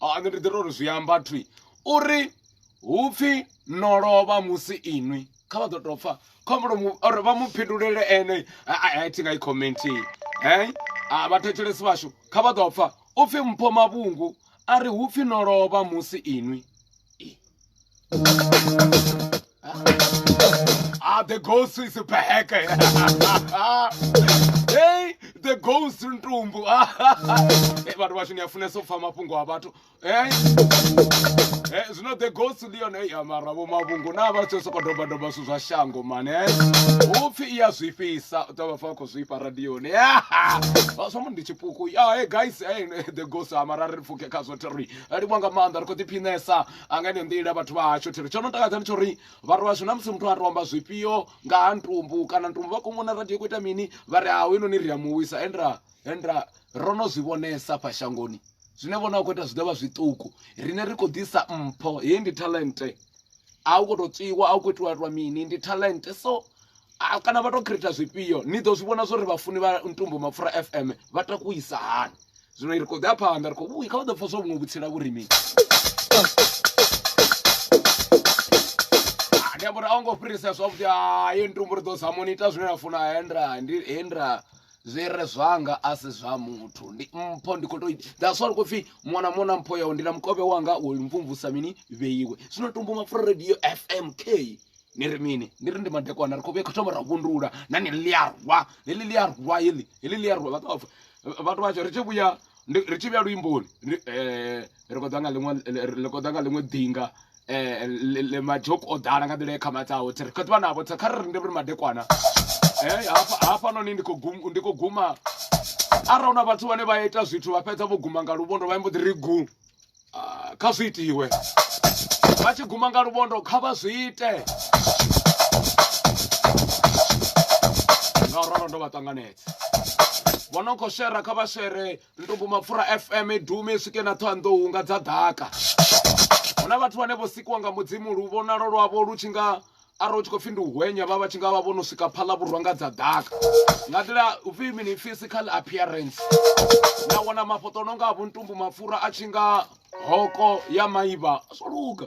ah, nṋe ndi ḓi tori zwi amba thwi uri hupfi no lovha musi inwi kha vha ḓo tou pfa khombolo uri vha mu phindulele ene a thi nga i commentini he a vhathetshelesi vhashu kha vha ḓo pfa upfi mpho mavhungu a ri hupfi no lovha musi inwi Ah, the ghost is back. hey, the ghost ntumbu. hey, vhathu vashu ni a funesa u pfa mafhungo a vhathu. Hey. Hey, zwino the ghost ndi yone hey, mara vho mavhungu na vha tshi soko doba doba zwithu zwa shango man. Hey. Upfi iya zwifhisa, u ṱavha fa khou zwifha radioni. Vha zwa mu ndi tshipuku. Ya, hey guys, hey, the ghost a mara ri pfuke khazwo terry. a livhuwa nga maanḓa ri khou ḓiphinesa nga ine nḓila vhathu vha hashu thiri tsho no takadza ndi tsho ri vhathu vhashu na musi muthu a romba zwifhio nga ha ntumbu kana ntumbu vha khou mona radio khou ita mini vha ri haho inoni ri a muwisa endra endra ro no zwi vhonesa fha shangoni zwine vhona a khou ita zwi ḓo vha zwiṱuku rine ri khou ḓisa mpho heyi ndi talente a u khou tou tswiwa a u khou itiwa itiwa mini ndi talente so Ah, kana vha tou creator zwifhio ni ḓo zwi vhona zwori vhafuni vha ntumbo mapfura fm vha takuisa hani zwino ri khou ḓi a phanḓa ri khou vhuyi kha vha ḓo pfa zwa vhuṅwe vhutsila vhurimini ah, ndi amba uri a ngo fhirisa zwavhuḓi hayi ah, ntumbo ri ḓo zamoni ita zwine na funa hendra ndi hendra zwi re zwanga a si zwa muthu ndi mpho ndi khou to that's why ri khou pfhi muṅwe na muṅwe na mpho yawe ndi na mukovhe wanga wo mvumvusa mini vheiwe zwino tumbo mapfura radio fmk ni ri mini ni ri ndi madekwana ri khou vhuya kho thoma ra vhundula na ni ḽi a rwa heḽi ḽi a rwa heḽi heḽi ḽi a rwa vhathu vhathu vhashu ri tshi vhuya ri tshi vhuya luimboni eh, ri khou ḓa nga ḽiṅwe ri khou ḓa nga ḽiṅwe ḓinga eh, majoku o ḓala nga nḓila ye khama dzawo ri khou ḓivha navho kha ri ri ndi ri madekwana eh, hafhanoni ndi khou guma arali hu na vhathu vhane vha ita zwithu vha fhedza vho guma nga luvhondo vha mbo ḓi ri gu ah, kha zwi itiwe vha tshi guma nga luvhondo kha vha zwi ite nga ralo ndo vha ṱanganedza vho no khou shera kha vha shere ndugu mapfura fm dume swike na ṱhoanḓou nga dza ḓaka hu na vhathu vhane vho sikiwa nga mudzimu lu vhonalo lwavho lu tshi nga arali u tshi khou pfhi ndi u hwenya vha vha tshi nga vha vho no swika phala vhurwa nga dza ḓaka nga nḓila upfhi mini physical appearance na wana mafhoṱo no nga a vhontumbu mapfura a tshi nga hoko ya maivha a zwo luga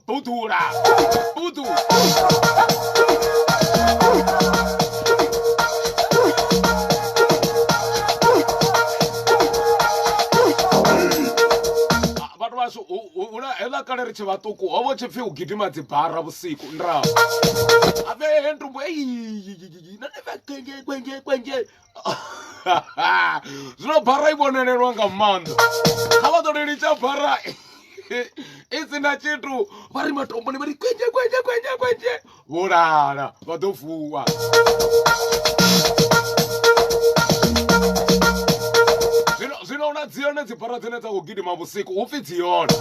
Budura! Budu! Ah, vhathu vhashu hu- hu- hula heḽa kale ri tshe vhaṱuku ho vho tshipfi u gidima dzibara vhusiku ndrao avhe ndumbo eyi nane vha kwenje kwenje kwenje zwino bara i vhonelelwa nga maanḓa kha vha ḓo ri litsha bara i si na tshithu vha ri matomboni vha ri kwenje kwenje kwenje kwenje vho lala vha ḓo vuwa zwino na dzi yone dzi bara dzine dza khou gidima vhusiku hu pfi dzi yone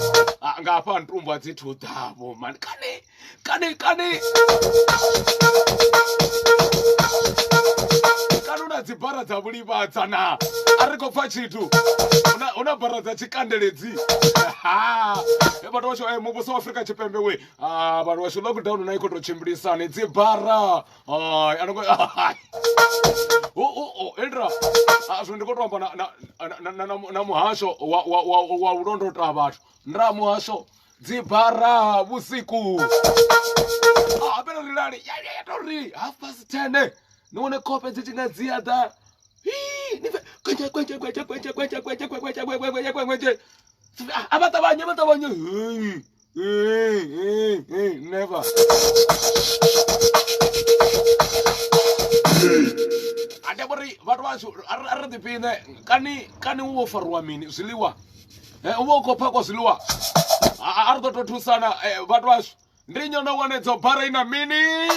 nga hafha ntumbu a dzi thu ḓavho mani kani ቀኔ ቀኔ kanuna dzibara dza vhulivhadza na a ri khou pfa tshithu Una- una bara dza tshikandeledzi e vhathu washu e muvhuso wa afrika tshipembe we Ah, vhathu washu lockdown na i khou tou tshimbilisani dzibara Ai, ano ngo- o o o eldra Ah, zwino ndi khou tou amba na- na- na- na- na- na muhasho wa- wa- wa wa u londota vhathu nda muhasho dzibara vhusiku hapela ri lale ya ya to ri half past 10 ni wane kope dzi tshina dzi ya ḓa a vha ṱavhanye vha ṱavhanye never ande vhori vhathu vhashu a ri ḓiphiṋe kani kani wo fariwa mini zwiḽiwa Eh, u vha u khou phakwa zwiḽiwa A- a- a ri ḓo tou thusana eh, vhathu washu ndi nyo no wanedzo bara i na mini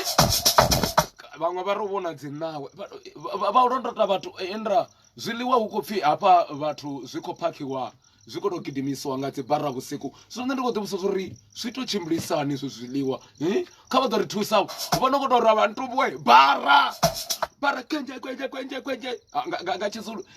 vhaṅwe vha ri u vhona dzinawe Vha- vha- vha u londota vhathu eh, indra zwiḽiwa hu khou pfhi hafha vhathu zwi khou phakhiwa zwi khou tou gidimisiwa nga dzi bara vhusiku zwino nṋe ndi khou ḓivhusa zwo ri zwi tou tshimbilisani izwo zwiḽiwa Eh, kha vha ḓo ri thusa vho no khou tou ra vhantuwe bara bara kwenje kwenje kwenje kwenje Ah, nga- nga nga tshizulu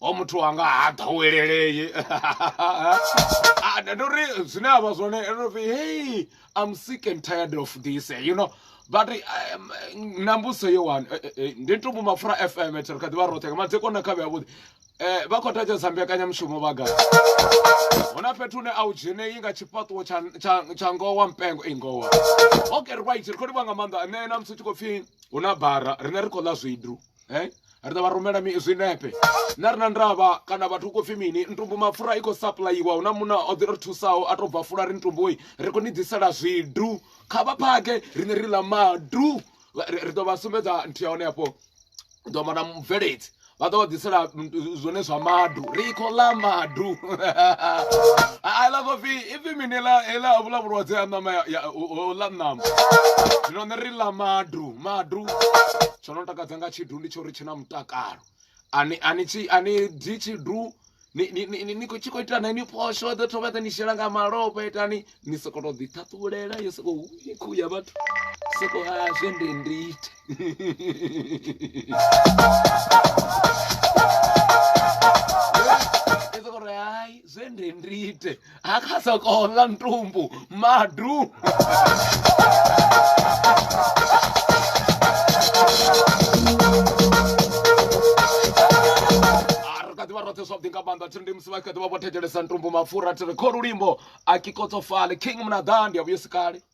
o muthu wanga ha ḓowelelei ndo ri zwine a vha zwone ndo pfi hey i'm sick and tired of this you know but um, na mbuso yo wani eh, eh, eh, ndi ntumbu mapfura fm ri kha ḓivha roṱhe nga madziko na khavhe avhuḓi um vha khou thetshelesa mbekanyamushumo vha gai hu na fhethu hune a u dzhenei nga tshifhaṱuwo tsha ngowa mpengo i ngowa okay right ri khou livha nga maanḓa nṋe na musi u tshi khou pfhi hu na bara rine ri khou ḽa zwidu eh ri ḓo vha rumela zwinepe na ri na ndavha kana vhathu hu khou pfhi mini ntumbu mapfura i khou sapuḽayiwa hu na muna o ḓi ri thusaho a tou bva fula ri ntumboi ri khou ni ḓisela zwidu kha vha phake riṋe ri ḽa madu ri ḓo vha sumbedza nthihi ya hone hafho ḓo amba na mubveledzi vha ḓo vha ḓisela zwone zwa madu ri khou ḽa madu a ḽa khou pfhi ipfhi mini ḽa ḽa vhula vhulwadze ha ṋama ḽa ṋama zwino ṋe ri ḽa madu madu tsho no takadza nga tshidu ndi tsho ri tshi na mutakalo ani ani tshi ani dzi tshidu ni ni ni ni- ni khou tshi khou ita na ni phosho ḓo thoma ḓa ni shela nga malofha itani ni sokou tou ḓi ṱhaṱhulela yo sokou hu ni khuhu ya vhathu sokou a zwe ndi ndi ite Esa gore hai zwe nde ndi ite a kha soko ḽa ntumbu madu ḓivha roṱhe zwavhuḓi nga maanḓa thiri ndi musi vha kha ḓivha vho thetshelesa ntumbu mapfura thiri kho lulimbo a kikotsofale king munaḓa ndi a vhuyo sikale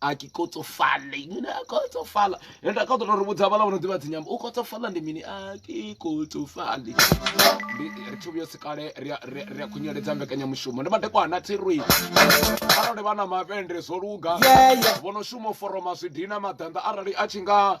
a ke kotsofale mine a kotsofala ende a ka ṱola ri vhudza vhala vho no ḓivha dzinyambo u kotsofala ndi mini a ke kotsofale ndi ri thi vhuyo sikale ri a- ri a- ri a khunyeledza mbekanyamushumo ndi madekwana tsirwi arali vha na mavhende zwo luga Yeah, yeah. vho no shuma u foroma zwidina maḓanḓa arali a tshi nga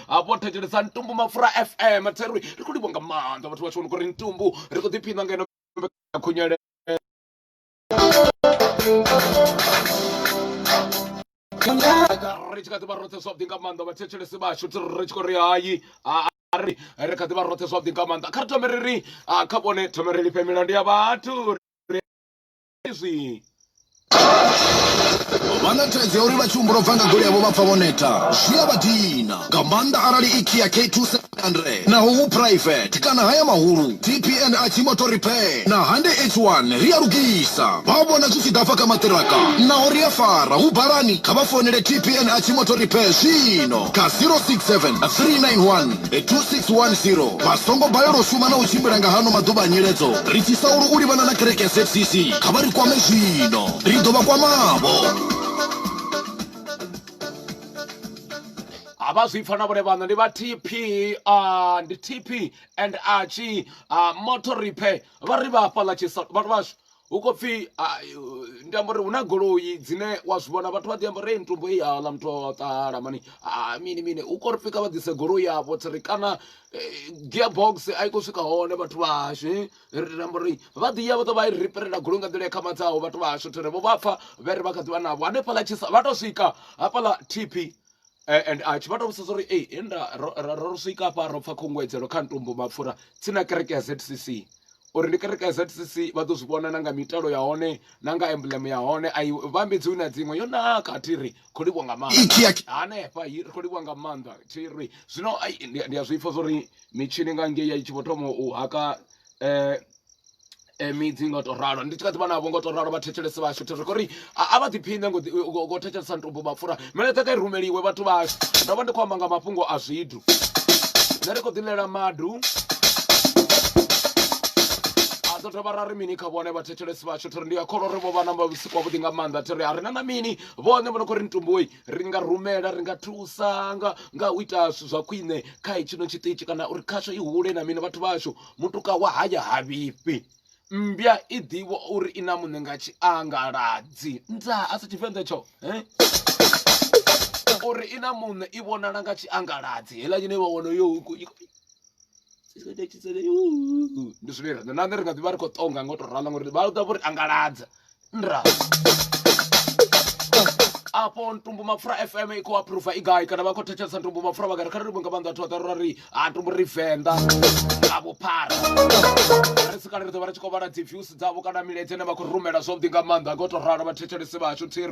hafho thetshelesa ntumbu mapfura fm theri ri khou livho nga maanḓa vhathu vha tshi vhona kuri ntumbu ri khou ḓiphina ngeno khunyele ri tshi kha ḓi vha roṱhe zwavhuḓi nga maanḓa vhathetshelesi vhashu ti ri tshi khou ri hayi ari ri kha ḓi vha roṱhe zwavhuḓi nga maanḓa kha ri thome ri ri kha vhone thome ri lifhe milandu ya vhathu izwi vha na thaidzo ya uri vha tshi humbula bva nga goli yavho vha pfa vho neta zwi a vha dina nga maanḓa arali i kia k2700 naho hu private kana haya mahulu tpn a tshi motor repair na hande h1 ri a lugisa vha vhona zwi tshi ḓa fha kha maṱiraka naho ri a fara hu balani kha vha founele tpn a tshi motor repair zwino kha 067 391 2610 vha songo balelwa u shuma na u tshimbila nga hano maḓuvha a nyiledzo ri tshi saulu u livhana na kereke ya zcc kha vha ri kwame zwino ri ḓo vha kwamavho a vha zwi pfa na vhone vhaṋa ndi vha tp uh, ndi tp and achi uh, motor repair vha ri vha hafhaḽa vhathu vhashu hu khou pfhi ndi amba uri hu na goloi dzine wa zwi vhona vhathu vha ḓi amba uri ntumbo i yaḽa muthu o ṱala mani mini mini hu khou ri pfhi kha vha ḓise goloi yavho tsiri kana eh, gearbox a i khou swika hone vhathu vhashu eh? ri amba uri vha ḓi ya vha ḓo vha i riperela goloi nga nḓila ya khamadzaho vhathu vhashu thiri vho vha pfa vhe ri vha kha ḓi vha navho hanefhaḽa tshisa vha tou swika hafhaḽa tp Eh, and a tshi vha tou vhudzisa uri ei enda ro swika hafha ro pfha khunguwedzelo kha ntumbu mapfura tsina kereke ya ZCC uri ndi kereke ya ZCC vha ḓo zwi vhona na nga mitalo ya hone na nga emblem ya hone a vhambedzi na dziṅwe yo naka thi ri kho livhwa nga maanḓa hanefha ri kho livhwa nga maanḓa thi ri zwino ndi a zwi pfha zwa uri mitshini nga ngei ya i tshi vho thoma u haka um eh, midzi nga to ralo ndi tshi kha ḓivha navho nga to ralo vha thetshelese vhashu thero kori a vha ḓiphine ngo thetshelesa ntumbu mapfura mele kha kha rumeliwe vhathu vhashu ndo vha ndi khou amba nga mafhungo a zwithu nṋe ri khou ḓilela madu dzo dovha ra ri mini kha vhone vha thetshelesi vhashu thiri ndi a kholwa uri vho vha na vhusiku wavhuḓi nga maanḓa thiri a ri na na mini vhone vho no khou ri ntumboi ri nga rumela ri nga thusa nga nga u ita zwithu zwa khwine kha hetshino tshiṱitshi kana uri khasho i hule na mini vhathu vhashu Mutuka wa haya ha vhifhi mmbya i ḓivha uri i na muṋe nga tshiangaladzi nda a si tshivenḓa tsho eh? uri i na muṋe i vhonala nga tshiangaladzi heila nyine vha wana yo ndi zwine riṋe na nṋe ri nga ḓivha ri khou ṱonga nga u tou rala ngori vha ḓa vho ri angaladza nra apo ntumbu mapfura fm i khou aphuruva i gai kana vha khou thetshelesa ntumbu mapfura vha gari kha ri livhe nga maanḓa thoḓa rora ri a ntumbu ri venḓa nga vhuphara ri si kale ri ḓo vha ri tshi khou vhala dzi views dzavho kana milaedza ine vha khou rumela zwavhuḓi nga maanḓa nga u tou ralo vhathetshelesi vhashu thiri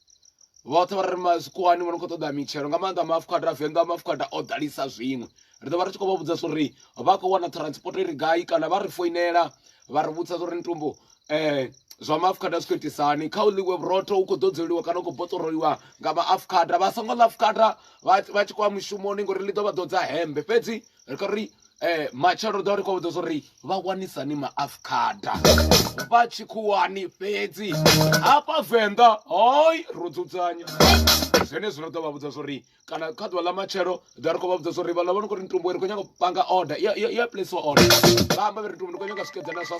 vhoṱhe vha ri mazwikuwani vha no khou ṱoḓa mitshelo nga maanḓa maafukhada venḓa maafukhada o ḓalisa zwiṅwe ri ḓo vha ri tshi khou vha vhudza uri vha khou wana transport ri gai kana vha ri foinela vha ri vhudza uri ntumbo um zwa maafukhada zwi khou itisani kha u ḽiwe vhurotho hu khou ḓodzeliwa kana u khou boṱoroliwa nga maafukhada vha songo ḽa afukhada vha tshi khou ya mushumoni ngori ḽi ḓo vha ḓodza hembe fhedzi ri khou ri um matshelo ri ḓo ri khou vhudzisa uri vha wanisani maafukhada vha tshikhuwani fhedzi hafha venḓa hoi ro dzudzanya zwenezwi ri ḓo vha vhudza zwori kana kha ḓuvha ḽa matshelo ḓa ri khou vha vhudza zwori vha ḽa vha ni khou ri ntumbuwe ri khou nyanga u panga order ya ya place order vha amba vha ri ntumbuwe ri khou nyanga swikedzana zwa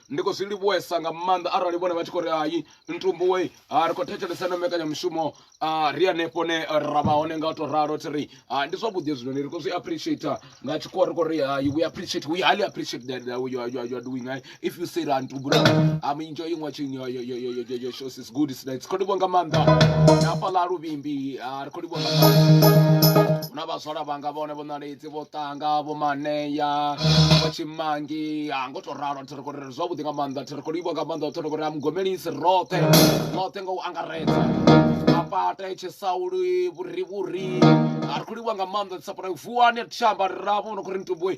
ndi khou zwi livhuwesa nga maanḓa arali vhone vha tshi khou ri hai ntumbuwe ah, ri khou thetshelesa na mbekanyamushumo ah, ri hanefho ne ra vha hone nga u to ralo thi ri ah, ndi zwavhuḓi hezwinoni ri khou zwi appreciate nga tshikhuwa ri khou ri hai we appreciate we highly appreciate that, that you, are, you, are, you are doing hai if you say ra ntumbu I'm enjoying watching your, your, your, your, your, your shows It's good it's nice. Kho livhuwa nga maanḓa na hafha ḽa luvhimbi ah, ri kho livhuwa nga maanḓa huna vhaswala vhanga vhone vho ṋaledzi vho ṱanga vho maneya vho tshimangi ah, ngo to ralo thi ri khou ri zwavhuḓi nga maanḓa thi ri khou livhuwa nga maanḓa thi ri khou ri a mugomelisi roṱhe roṱhe nga u angaredza mapate tshisauli vhurivhuri a ri khou livhuwa nga maanḓa dzi sapota vuwani ri tshi amba ri ravho no khou ri ntumbue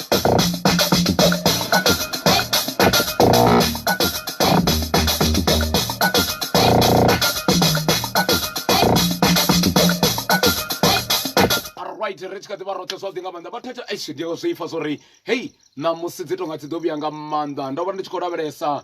right ri tshi kha ḓi vha roṱhe zwavhuḓi nga maanḓa vha thetsha eish ndi zwi pfha zwo ri hei ṋamusi dzi tonga dzi ḓo vhuya nga maanḓa ndo vha ndi tshi khou lavhelesa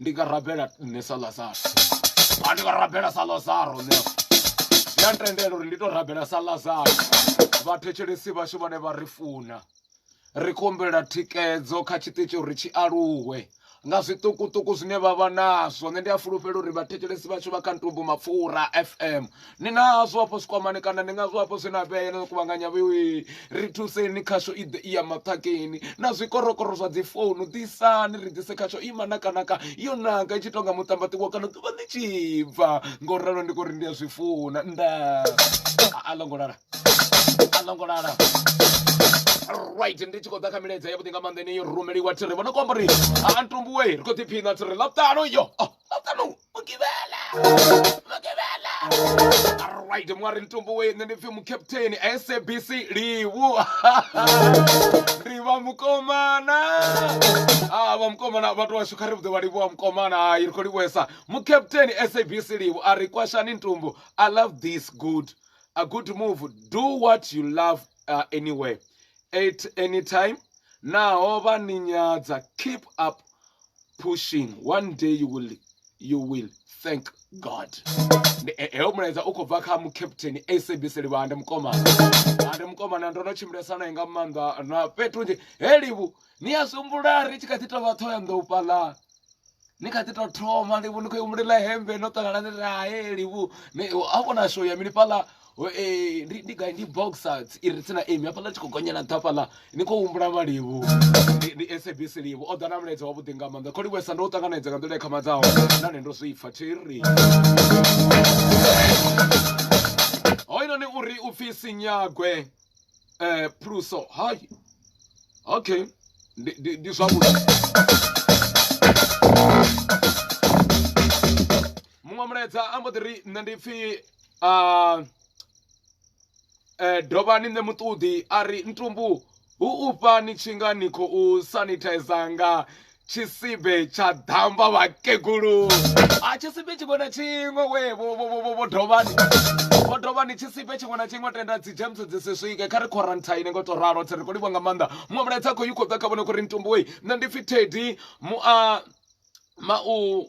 ndi nga rabela nṋe sa lazaro a ndi nga rabela sa lazaro nṋe ndi a ntendela uri ndi to rabela sa lazaro vhathetshelesi vhashu vhane vha ri funa ri khou humbela thikedzo kha tshiṱitshi uri tshi aluwe nga zwiṱukuṱuku zwine vha vha nazwo nṋe ndi a fulufhela uri vhathetshelesi vhashu vha kha ntumbu mapfura fm ni nazwo hafho zwikwamani kana ndi ngazwo hafho zwi na vhea no kuvhanganya vhewe ri thuseni khasho i ḓe i ya maṱhakeni na zwikorokoro zwa dzi founu ḓisani ri ḓise khasho ima nakanaka yo naka i tshi tonga muṱambaṱiwo kana ḓuvha ḽi tshi bva ngo ralo ndi kori ndi a zwi funa nda a ḽo ngo lala a ḽo ngo lala right ndi tshi khou ḓa kha milaedza ya vhuḓi nga maanḓa ine yo rumeliwa thiri vha no kuamba uri a ntumbuwe ri khou ḓiphina thiri ḽa ṱano yo ḽa ṱano mugivhela mugivhela right mwari ntumbu we nṋe ndi pfi mucaptain sabc livu ri vha mukomana a vha mukomana vhathu washu kha ri vhuḓe vha livhuwa mukomana hayi ri khou livhuesa mucaptain sabc livu a ri kwashani ntumbu i love this good a good move do what you love uh, anywhere at any time naho vha ni nyadza keep up pushing one day you will you will thank god heyo mulaedza u khou bva kha mucaptain sabc livhanda mukomana ande mukomana ndo no tshimbilesa naye nga maanḓa na fhethu nzhi he livhu ni a sumbula ri tshi kha ḓi tovha ṱhoho ya nḓou fhaḽa ni kha ḓi tou thoma livhu ni khou humbulela hembe no ṱangana ni rahe livhu a vhona show ya mini fhaḽa Eh, ndi ndi gai ndi boxer i re tsena emi hafhaḽa tshi khou gonyela nṱha hafhaḽa ni khou humbula malivhu ndi- ndi sabc livhu o ḓa na mulaedza wavhuḓi nga maanḓa kho livhuesa ndo u ṱanganedza nga nḓila i khamadzaho nahone ndo zwi pfa thiri hoyinoni uri u pfhi sinyagwe um phuluso hai okay ndi- ndi ndi zwavhuḓi muṅwe mulaedza a mbo ḓi ri nṋe ndi pfhi dovha ni ṋe muṱoḓi a ri ntumbu hu u fha ni tshi nga ni khou sanithaiza nga tshisibe tsha ḓamba vhakegulu a tshisibe tshiṅwe na tshiṅwe we vho vho vho vho vho dovha vho dovha ni tshisibe tshiṅwe na tshiṅwe tenda dzi james dzi si swike kha ri quarantine ngo to ralo tsi ri kho livha nga maanḓa muṅwe mulaedza khou yi khou ḓa kha vhone khou ri ntumbu wei nṋe ndi pfi tedi mu a ma u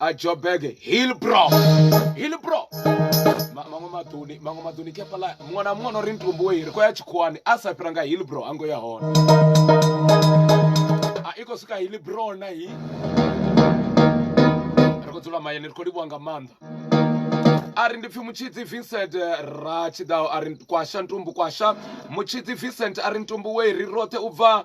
a joburg hillbro hillbro Ma- maṅwe maḓuni maṅwe maḓuni kepala muṅwe na muṅwe no ri ntumbu wei ri khou ya tshikhuwani a sa fhira nga hillbro a ngo ya hone a i khou swika hillbro na hi ri khou dzula mayeni ri khou livhuwa nga maanḓa a ri ndi pfhi mutshidzi vincent eh, ra tshiḓaho a ri kwasha ntumbu kwasha mutshidzi vincent a ri ntumbu wei ri roṱhe u bva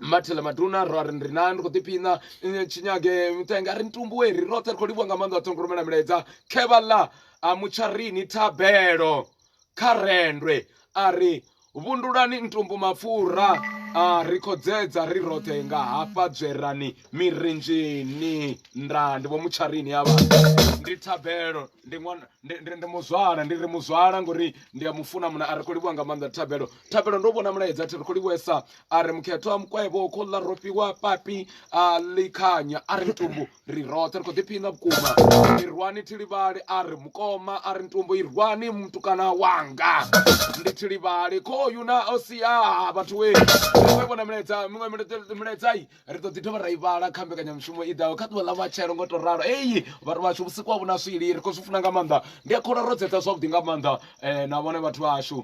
mathela maduna ro ri ndi na ndi khou ḓiphina tshinyage mitenga ri ntumbuwe ri roṱhe ri khou livhuwa nga maanḓa ṱhongo rumela milaedza khevha ḽa a mutsharini thabelo kha rendwe a ri vhundulani ntumbu mapfura a ri khodzedza ri roṱhe nga hafha dzwerani mirinzhini nda ndi vho mutsharini ya vha ndi thabelo ndi ṅwana ndi muzwala ndi ri muzwala ngori ndi a mufuna muna a ri khou livhuwa nga maanḓa thabelo thabelo ndo vhona mulaedza thi ri khou livhuwesa a ri mukhetho wa mukwevho wo kholla ro fhiwa papi a likhanya a ri ntumbu ri roṱhe ri khou ḓiphina vhukuma i rwani thilivhali a ri mukoma a ri ntumbu i rwani mutukana wanga ndi thilivhali khoyu na o siaa vhathu we we vhona milaedza miṅwe milaedzai ri ḓo ḓi dovha ra i vhala kha mbekanyamushumo i ḓaho kha ḓuvha ḽa matshelo ngo to ralo eyi vhathu vhashu vhusiku ha vhuna swili ri khou zwi funa nga maanḓa ndi a khola ro dzeṱa zwavhuḓi nga maanḓa um na vhone vhathu vhashu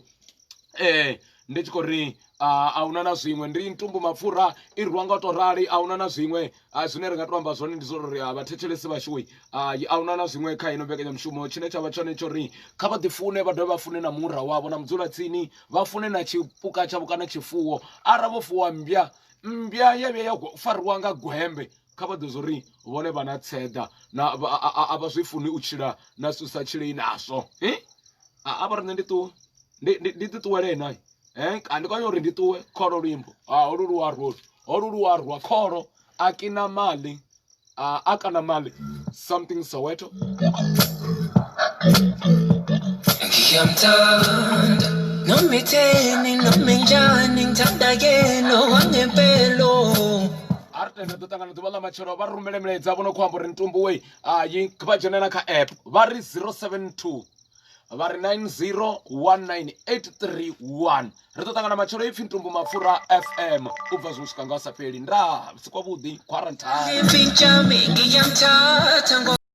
um ndi tshi khou ri a huna na zwiṅwe ndi ntumbu mapfura i rwa nga u to rali a huna na zwiṅwe zwine ri nga to amba zwone ndi zwo ri vhathetshelesi vhashui a huna na zwiṅwe kha ino mbekanyamushumo tshine tsha vha tshone tsho ri kha vha ḓifune vha dovhe vha fune na mura wavho na mudzula tsini vha fune na tshipuka tshavho kana tshifuwo ara vho fuwa mmbya mmbya ya vhuya ya fariwa nga gwembe kha vha ḓivhe uri vhone vha na tseḓa na a vha zwi funi u tshila na zwithu sa tshilei nazwo a vha ri nṋe ndi ṱuwe ndi ṱuṱuwele na ndi khou uri ndi ṱuwe kholo luimbo holu luwa rolu holu luwa rwa kholo a kina mali a kana mali something Soweto. artende ḓo ṱangana ḓuvha ḽa matshelo vha rumele milaedza vho no khou amba uri ntumbuwe a yi vha dzhene na kha app vha ri 072 vha ri 9019831 ri ḓo ṱangana matshelo ipfi ntumbu mapfura fm u bva zwi swika nga u sa fheli nda si kwavhuḓi quarantine